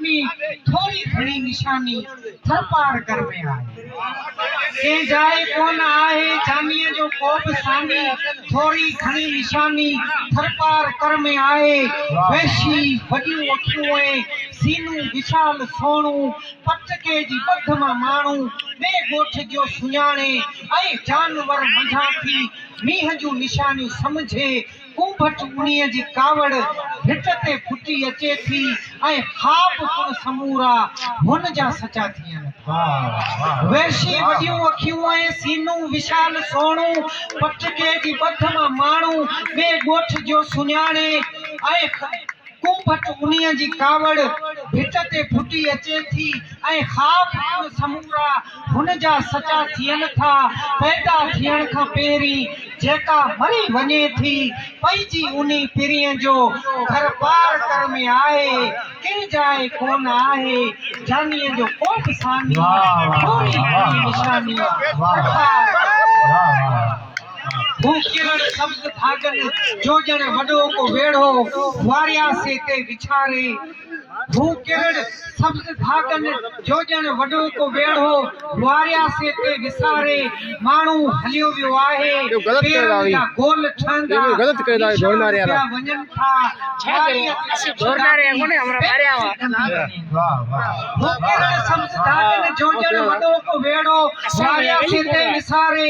۾ ٿوري گهڻي نشاني ٿرپارڪر ۾ آهي. ڪنهن جاء ڪونه آهي جانيء جو ڪوبه ساني، ٿوري گهڻي نشاني ٿرپارڪر ۾ آهي. وحشي، وڏيون اکيون ۽ سينو وشال سهڻو، پٽڪي جي ٻڌ مان ماڻهو ٻئي ڳوٺ جو سڃاڻي ۽ جانور منجهان ٿي مينهن جون نشانيون سمجهي، ڪونڀٽ انهيء جي ڪاوڙ ڀٽ تي ڦٽي اچي ٿي ۽ خواب پڻ سمورا هن جا سچا ٿين ٿا. وحشي وڏيون اکيون ۽ سينو وشال سهڻو پٽڪي جي ٻڌ مان ماڻهو ٻئي ڳوٺ جو سڃاڻي ۽ ڪو ڀٽ انهيء جي ڪاوڙ ڀت تي ڦٽي اچي ٿي ۽ خواب پڻ سمورا هن جا سچا ٿين ٿا. پيدا ٿيڻ کان پهرين جيڪا مري وڃي ٿي، پئجي انهي پرينء جو گهر پار ڪر ۾ آهي، ڪنهن جاء ڪونه آهي، جانيء جو ڪو به ثاني، ٿوري گهڻي نشاني، ڪرپار. هو ڪرڻ سبز ڀاڳن جو ڄڻ وڏو ڪو ويڙهو وارياسي تي وڇاري هو ڪرڻ سبز ڀاڳن جو ڄڻ وڏو ڪو ويڙهو وارياسي تي وساري ماڻهو هليو ويو آهي پيرن جا گول ٺهندا نشان پيا وڃن ٿا هو ڪرڻ سبز ڀاڳن جو ڄڻ وڏو ڪو ويڙهو وارياسي تي وساري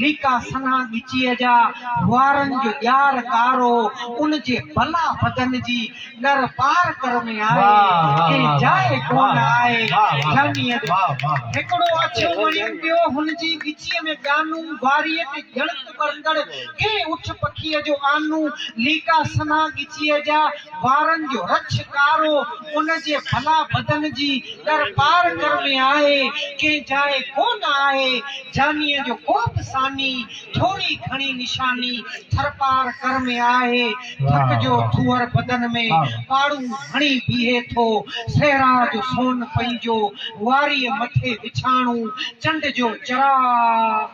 نيڪا سنها ڳچيء جا وارن جو ڄار ڪارو، ان جي بلا بدن جي ڏر پار ڪر ۾ آهي، ڪنهن جاء ڪونه آهي، جهنيء جو هڪڙو اڇو مڻين پيو هن جي ڳچيء ۾ ڄانو، واريء تي ڄڻڪ ٻرندڙ ڪنهن اٺ پکيء جو آنو، نيڪا سنها ڳچيء جا وارن جو رڇ ڪارو، ان جي بلا بدن جي ڏر پار ڪر ۾ آهي، ڪنهن جاء ڪونه آهي، جانيء جو ڪو به ثاني، ٿوري گهڻي نشاني، ٿرپار ڪر ۾ آهي. ٿڪ جو ٿوهر بدن ۾، پاڙون هڻي بيهي ٿو. صحرا جو سون پنهنجو، واريء مٿي وڇاڻو. چنڊ جو چراغ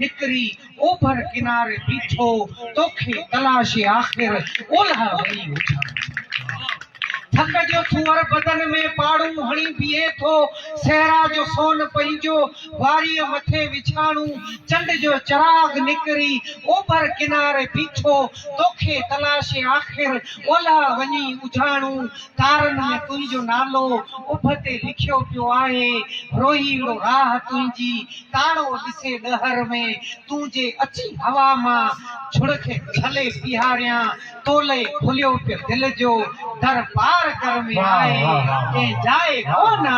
نڪري، اوڀر ڪناري بيٺو. توکي تلاشي آخر، اولهه وڃي وڇاڻو. ٿڪ جو ٿوهر بدن ۾، پاڙون هڻي بيهي ٿو. صحرا جو سون پنهنجو. واريء مٿي وڇاڻو چنڊ جو چراغ نڪري اوڀر ڪناري بيٺو توکي تلاشي آخر اولهه وڃي اجهاڻو تارن ۾ تنهنجو نالو اڀ تي لکيو پيو آهي روهيڙو راهه تنهنجي تاڻو ڏسي ڏهر ۾ تون جي اچي هوا مان جهڙڪ جهلي بيهاريان تولئي کليو پيو دل جو در پار ڪر ۾ آء ڪنهن جاء ڪونه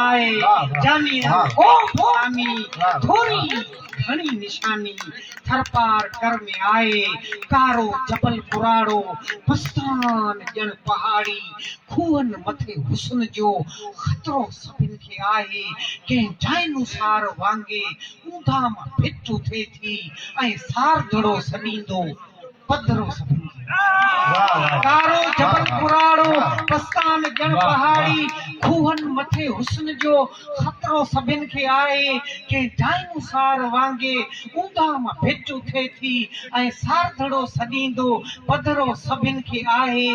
آء جاني ۽ ڪو به ڪامي ٿوري گهڻي نشاني ٿر پار ڪر ۾ آء ڪارو جبل پراڙو بستان ڄڻ پهاڙي کوهن مٿي حسن جو خطرو سڀن کي آهي ڪنهن جائنوسار وانگي اونداهه مان ڦٽ اٿي ٿي ۽ ساردڙو سڏيندو پڌرو سڀني جي آهي. ڪارو جبل ڪراڙو پستان ڄڻ پهاڙي کوهن مٿي حسن جو خطرو سڀن کي آهي. ڪنهن ڊائنوسار وانگي اونداهه مان ڀت اٿي ٿي ۽ سارڌڙو سڏيندو پڌرو سڀن کي آهي.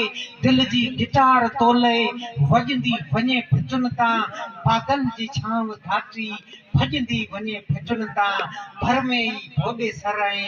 دل جي گٽار تولئي وڄندي وڃي ڀٽن تان بادل جي ڇانو ڌاٽي ڀڄندي وڃي ڀٽن تان ڀرمي ئي ڀوڏي سر ۽